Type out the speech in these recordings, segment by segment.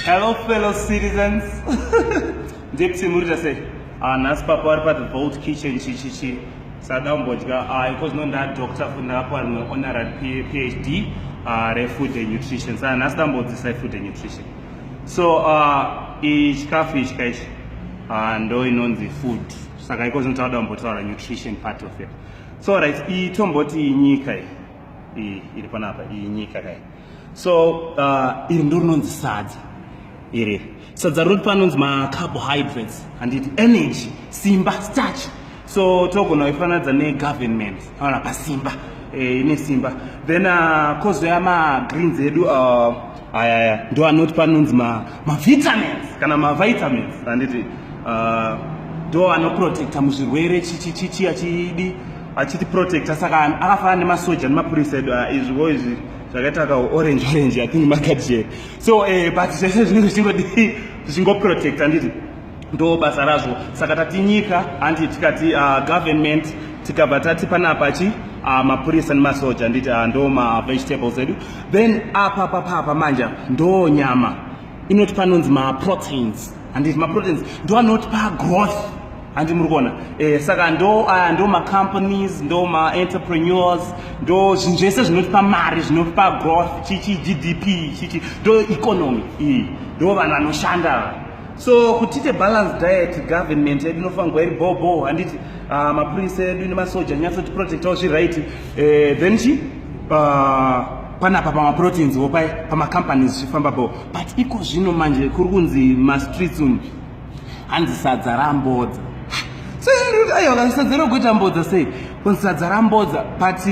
Hello fellow citizens. Ndipsi murita sei? Ah nhasi papa vari pa the vault kitchen chichichi. Sada umbodya ah because no nda doctor futi ndakapuwa rimwe honorary PhD ah re food and nutrition. Saka nhasi ndambodzisa food and nutrition. So ah ichikafu ichi kaichi ah ndo inonzi food. Saka iko zvinotaura kumbotaura nutrition part of it. So right itomboti nyika iyi iri panapa iyi nyika kai. so uh, iri ndo rinonzi sadza iri sadza rinoti panonzi macarbohydrates handiti energy simba starch so togona kuifananidza negovernment aona pasimba eh, ine simba then uh, kozoya magreens edu uh, ayaya ndo anoti panonzi mavitamins ma kana mavitamins handiti uh, ndo anoprotecta muzvirwere chichichichi achidi achiti protector saka akafanana nemasoja nemapurisa edu ah, izviwo izvi zvakaita ka orange orange i think makadie so eh, but zvese zvinenge zvichingodi zvichingoprotecta nditi ndo basa razvo saka tati nyika handi tikati uh, government tikabva tati panapa chi uh, mapurisa nemasoja nditi uh, ndo mavegetables edu then apa papapa manja ndo nyama inoti panonzi maproteins handiti maproteins ndo anotipa growth handi muri kuona eh, saka ndo uh, ndo macompanies ndo maentrepreneurs ndo zvinhu zvese zvinotipa mari zvinotipa growth chichi gdp chichi ndo economy iyi ndo vanhu vanoshanda so kutite balance diet government yedu inofanirwa iri bobo handiti uh, mapurisa edu nemasoja nyatsoti protectawo zviri right eh, then chi uh, panapa pamaproteins wo paye pamacompanies zvichifamba bo but iko zvino manje kuri kunzi mastreets umu hanzi sadza rambodza aiwa sadza rokuita mbodza sei kunzi sadza rambodza but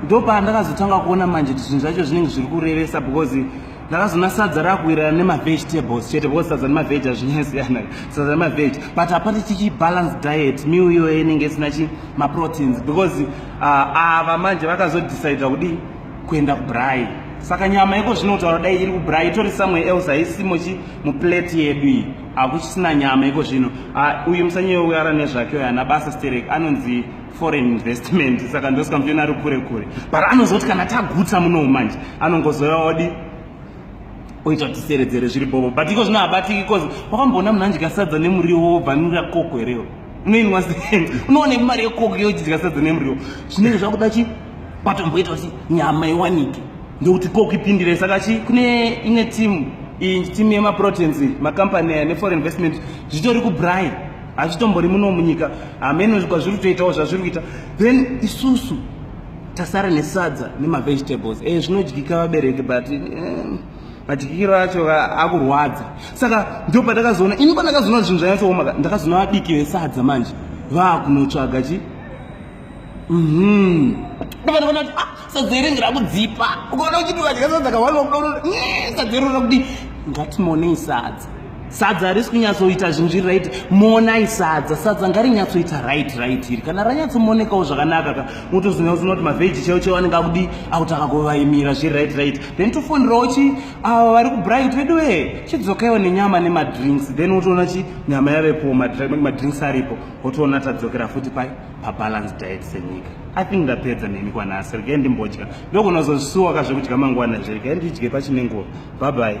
ndopaa ndakazotanga kuona manje kuti zvinhu zvacho zvinenge zviri kurevesa because ndakazoona sadza rakuwirirana nemavegetables chete because sadza nemaveg azvinyasiyana sadza nemaveg but hapati chichi balance diet meal iyoyo inenge isina chi maproteins because uh, ava manje vakazodecida kudii kuenda kubrai saka nyama iko zvinotaura dai iri kubrai itori somewhere else haisimo chi muplate yedu iyi hakuchisina nyama iko zvino ah, uyu musanyewo uyara nezvake uyo ana basa sterek anonzi foreign investment saka ndosika mutena ari kure kure but anozoti kana tagutsa munowo manje anongozoya odi oita kuti seredzere zviri bobo but iko zvino habatiki bcause wakamboona munhu andya sadza nemuriwo wobva nura koko herewo unoinwa sei unoona imari yekoko yochidya sadza nemuriwo zvinenge zvakuda chi kwatomboita kuti nyama iwanike ndokuti ko kuipindira saka chi kune imwe timu iyi timu yemaproteins macompany aya neforeign investment zvitori kubrai hazvitombori muno munyika hameno kwazviri kutoitawo zvazviri kuita then isusu tasara nesadza nemavegetables e zvinodyika vabereki but eh, madyikiro acho akurwadza saka ndo pandakazoona ini pandakazoona zvinhu zvanyatsooma ndakazoona vadiki vesadza manje vaakunotsvaga chii Mhm. Ndovana vana kuti ah sadzeri ngira kudzipa. Ukaona uchiti vadya sadza kawani wakuda kuti mm, sadzeri unoda kuti ngatimonei sadza. Sadza harisi kunyatsoita zvinhu zviri right monai sadza sadza ngarinyatsoita right right iri kana ranyatsomonekawo zvakanaka ka motozoona kuti unoti mavheji chaiwo chaiwo anenge akudi akutanga kuvaimira zviri right right then tofonerawo chi ava vari kubright vedu wee chidzokaiwo nenyama nemadrinks then wotoona chi nyama yavepowo madrinks aripo wotoona tadzokera futi pai pabalance diet senyika i think ndapedza neni kwanhasi regai ndimbodya ndokunozozvisuwa ka zvekudya mangwana izvo regai ndidye pachine nguva bye bye